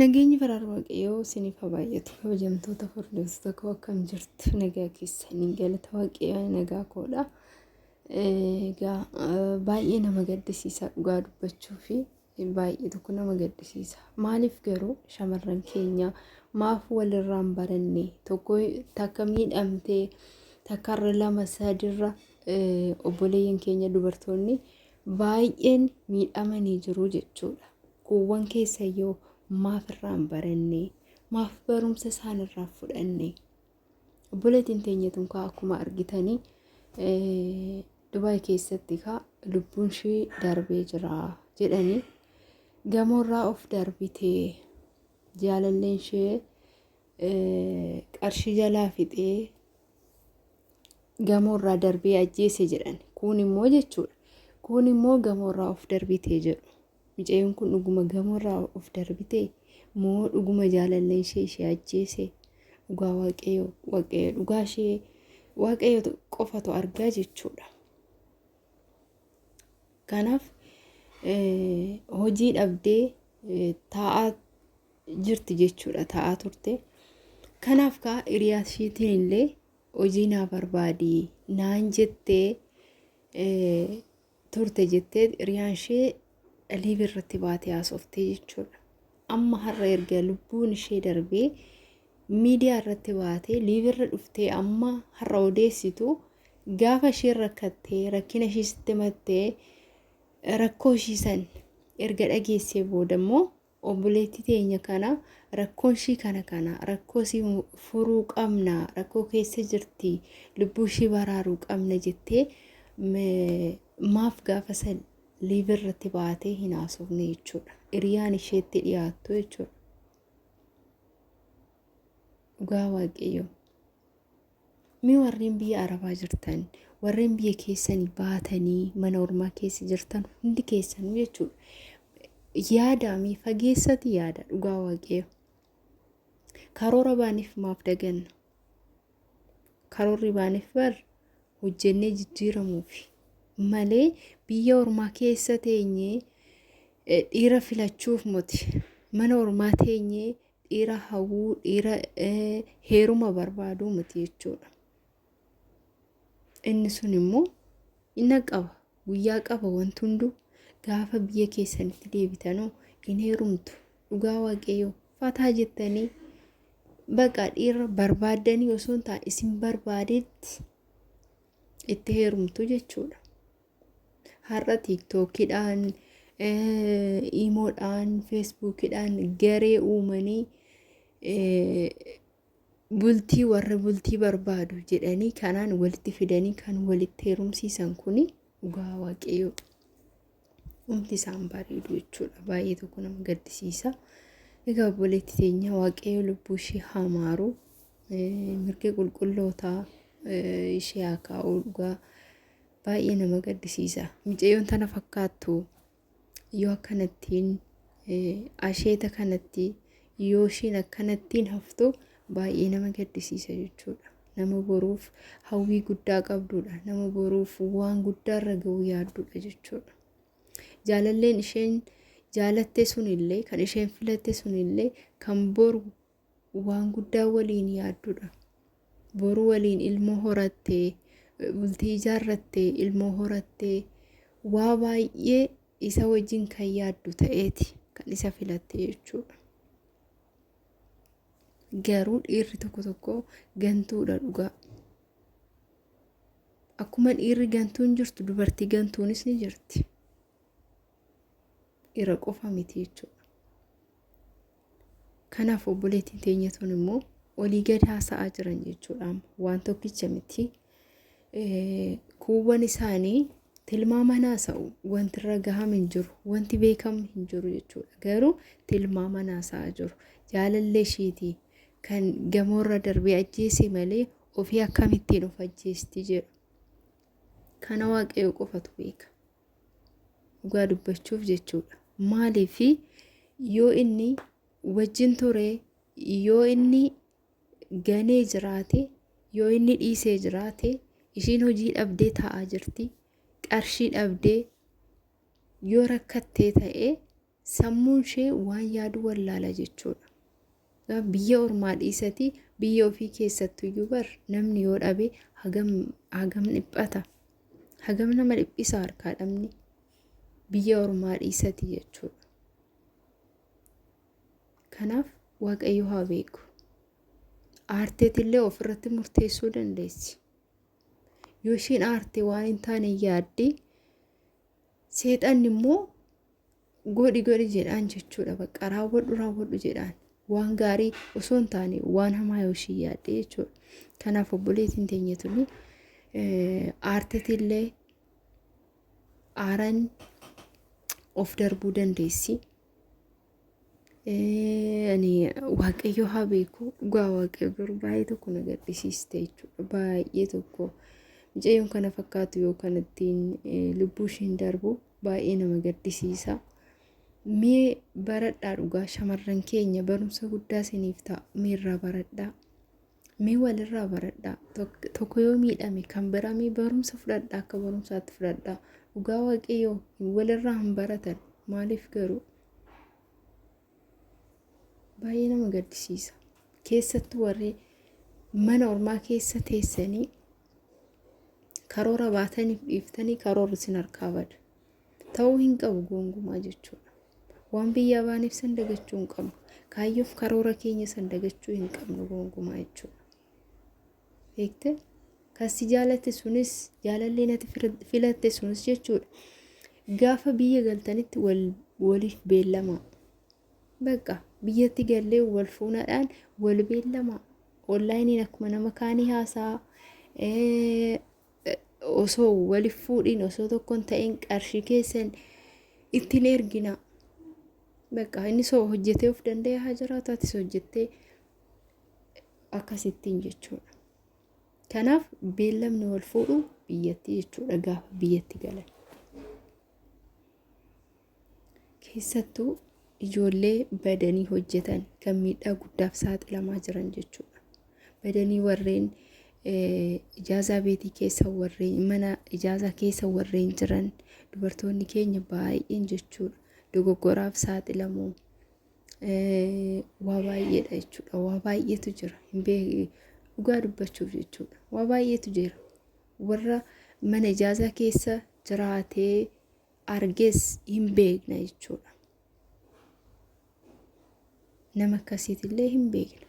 Nageenyi faraara waaqayyoo isiniif haa baay'atu kabajamtoota hordoftoota koo akkam jirtu nagaa keessanii galata waaqayyoo nagaa koodha. Egaa baay'ee nama gaddisiisa dhugaa dubbachuu fi baay'ee tokko nama gaddisiisa. Maaliif garuu shamarran keenya maaf walirraan baranne tokko takka miidhamtee takkarra lama sadirra obboleeyyan keenya dubartoonni baay'een miidhamanii jiru jechuudha. Kuuwwan keessayyoo maaf irraa hin baranne? Maaf barumsa isaan irraa fudhanne? Obboleettiin teenya tun kaa akkuma argitanii Dubaay keessatti kaa lubbuun ishee darbee jira jedhanii gamoorraa of darbitee jaalalleen ishee qarshii jalaa fixee gamoorraa darbee ajjeese jedhan. Kun immoo jechuudha. Kun immoo gamoorraa of darbitee jedhu. Micayoon kun dhuguma gamoorraa of darbitee? Moo dhuguma jaalalleen ishee ishee ajjeese? Dhugaa waaqayyoo waaqayyo dhugaa ishee waaqayyo qofatu argaa jechuudha. Kanaaf hojii dhabdee taa'aa jirti jechuudha taa'aa turte. Kanaaf kaa hiriyaa ishiitiin illee hojii naa barbaadi naan jettee turte jetteet hiriyaan ishee liiv irratti baatee haasoftee jechuudha. Amma har'a erga lubbuun ishee darbee miidiyaa irratti baatee liiv irra dhuftee amma har'a odeessitu gaafa isheen rakkattee rakkina ishee sitti mattee rakkoo ishii san erga dhageessee booda immoo Obboleettii teenya kana rakkoon ishii kana kana rakkoo isii furuu qabna rakkoo keessa jirti lubbuu ishii baraaruu qabna jettee maaf gaafa san liive irratti baatee hin haasofne jechuudha hiriyaan isheetti dhiyaattu jechuudha dhugaa waaqayyoo. Mee warreen biyya arabaa jirtan warreen biyya keessanii baatanii mana ormaa keessa jirtan hundi keessanuu jechuudha. Yaada mee fageessati yaada dhugaa waaqayyo. Karoora baaniif maaf daganna? Karoorri baaniif bar hojjennee jijjiiramuufi malee biyya ormaa keessa teenyee dhiira filachuuf moti mana ormaa teenyee dhiira hawwuu dhiira heeruma barbaaduu miti jechuudha. Inni sun immoo inni qaba guyyaa qaba wanti hunduu gaafa biyya keessanitti deebitanoo hin heerumtu dhugaa waaqayyoo fataa jettanii baqa dhiira barbaaddanii osoo hin taane isin barbaadetti itti heerumtu jechuudha. Har'a tiiktookidhaan, iimoodhaan, feesbuukidhaan garee uumanii bultii warra bultii barbaadu jedhanii kanaan walitti fidanii kan walitti heerumsiisan kun dhugaa waaqayyoo humti isaan bareedu jechuudha. Baay'ee tokko nama gaddisiisa. Egaa obboleetti teenya waaqayyoo lubbuu ishee haamaaru mirga qulqullootaa ishee haa kaa'uu dhugaa. Baay'ee nama gaddisiisa. Micayyoon tana fakkaattu yoo akkanattiin asheeta kanatti yoo ishiin akkanattiin haftu baay'ee nama gaddisiisa jechuudha. Nama boruuf hawwii guddaa qabdudha. Nama boruuf waan guddaarra ga'uu yaaddudha jechuudha. Jaalalleen isheen jaalatte sunillee kan isheen filatte sunillee kan boru waan guddaa waliin yaaddudha. Boru waliin ilmoo horattee, bultii ijaarrattee, ilmoo horattee waa baay'ee isa wajjin kan yaaddu ta'eeti kan isa filatte jechuudha. Garuu dhiirri tokko tokko gantuudha dhugaa. Akkuma dhiirri gantuun jirtu dubartii gantuunis ni jirti. Dhiira qofa miti jechuudha. Kanaaf obboleettiin teenya tun immoo olii gad haasa'aa jiran jechuudha. Waan tokkicha miti. Kuuwwan isaanii tilmaamaan haasa'u wanti irra gahame hin jiru. Wanti beekamu hin jiru jechuudha. Garuu tilmaamaan haasa'aa jiru. Jaalallee ishiitii kan gamoorra darbee ajjeese malee ofii akkamittiin of ajjeesti jedhu. Kana waaqayyo qofatu beeka. dhugaa dubbachuuf jechuudha maaliif yoo inni wajjin ture yoo inni ganee jiraate yoo inni dhiisee jiraate ishiin hojii dhabdee taa'aa jirti qarshii dhabdee yoo rakkattee ta'e Sammuun ishee waan yaadu wallaala jechuudha. Biyya ormaa dhiisatii biyya ofii keessattuyyuu bar namni yoo dhabe hagam hagam dhiphata. Hagam nama dhiphisa harkaa dhabni biyya ormaa dhiisatii jechuudha. Kanaaf waaqayyo haa beeku. Aarteetillee ofirratti murteessuu dandeessi. Yoo isheen aarte waan hin taane yaadde Seexanni immoo godhi godhi jedhaan jechuudha bakka raawwadhu raawwadhu jedhaan waan gaarii osoo hin taane waan hamaa yoo ishii yaadde jechuudha. Kanaaf obboleettiin teenya tuni aartetillee aaran of darbuu dandeessi. Ani waaqayyo haa beeku dhugaa waaqayyo garuu baay'ee tokko na gaddisiiste jechuudha baay'ee tokko mucayyoon kana fakkaatu yoo kanattiin lubbuu ishiin darbu baay'ee nama gaddisiisa. Mee baradhaa dhugaa shamarran keenya barumsa guddaa isiniif ta'a meerraa baradhaa. Mee walirraa baradhaa. Tok- Tokko yoo miidhame kan biraa mee barumsa fudhadhaa akka barumsaatti fudhadhaa. Dhugaa waaqayyoo hin- walirraa hin baratan. Maaliif garuu? Baay'ee nama gaddisiisa. Keessattuu warri mana ormaa keessa teessanii karoora baataniif dhiiftanii karoorri isin harkaa bada. Ta'uu hin qabu goongumaa jechuudha. Waan biyyaa baaneef san dagachuu hin qabnu. Kaayyoof karoora keenya san dagachuu hin qabnu goongumaa jechuudha. Beekte? Kan si jaalatte sunis jaalallee nati filatte sunis jechuudha. Gaafa biyya galtanitti waliif beellamaa. Bakka biyyatti gallee wal fuunadhaan wal beellamaa. Onlaayiniin akkuma nama kaanii haasaa. osoo walif fuudhiin osoo tokkon ta'in qarshii keessan ittiin ergina bakka inni soo hojjetee of danda'ee haa jiraatu atis hojjettee akkasittiin jechuudha. Kanaaf beellamni wal fuudhu biyyatti jechuudha gaafa biyyatti galan. keessattuu ijoollee badanii hojjetan kan miidhaa guddaaf saaxilamaa jiran jechuudha. Badanii warreen ijaazaa beetii keessa warreen mana ijaazaa keessa warreen jiran dubartoonni keenya baay'een jechuudha. Dogoggoraaf saaxilamu waa baay'eedha jechuudha. Waa baay'eetu jira. Dhugaa dubbachuuf jechuudha. Waa baay'eetu jira. Warra mana ijaazaa keessa jiraatee argees hin beekna jechuudha. Nama akkasiitillee hin beekna.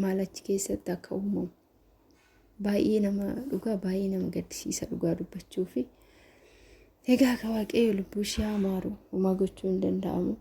Maal achi keessatti akka uumamu. Baay'ee nama dhugaa baay'ee nama gaddisiisa dhugaa dubbachuu fi egaa akka waaqayyo lubbuu ishee amaaru homaa gochuu hin danda'amu.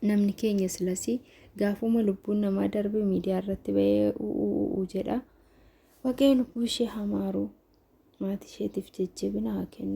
Namni keenya silasii gaafuma lubbuun namaa darbe miidiyaa irratti ba'ee u'uu jedha. Waaqayyo lubbuu ishee amaaru maatii isheetiif jajjabina haa kennu.